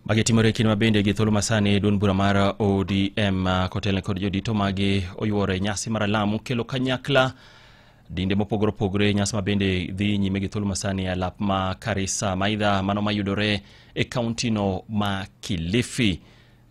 Magi timore kinde ma bende gi thuolo masani duond bura mar ODM ah, kotelne kod jodito magi oyuore nyasi mar alamu kelo kanyakla dinde mopogore opogore nyasi ma bende dhi nyime gi thuolo masani e alap ma Karisa maidha mano mayudore e kauntino ma Kilifi.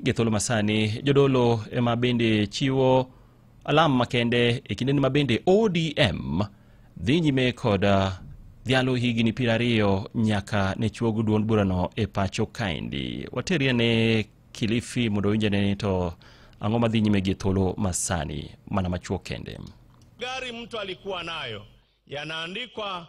Gi thuolo masani jodolo ema bende chiwo alam makende e kindeni ma bende odm dhi nyime kod uh, dhialo higni piero ariyo nyaka ne chuog duond burano e pacho kaendi waterie ne kilifi mondo winjane ni to ang'o madhi nyime gi thuolo masani mana machuo kende gari mtu alikuwa nayo yanaandikwa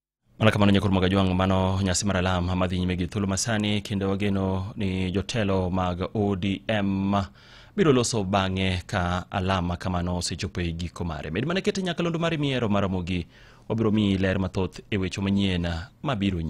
Mana kamano Nyakuru Magajwang' mano nyasi mar alam madhi nyime gi thuolo masani kendo wageno ni jotelo mag ODM biro loso bang'e ka alama kamano osechopo e giko mare. Med mana kete nyakalondo mari miero maromogi wabiro miyi ler mathoth e weche manyien mabiro nyime.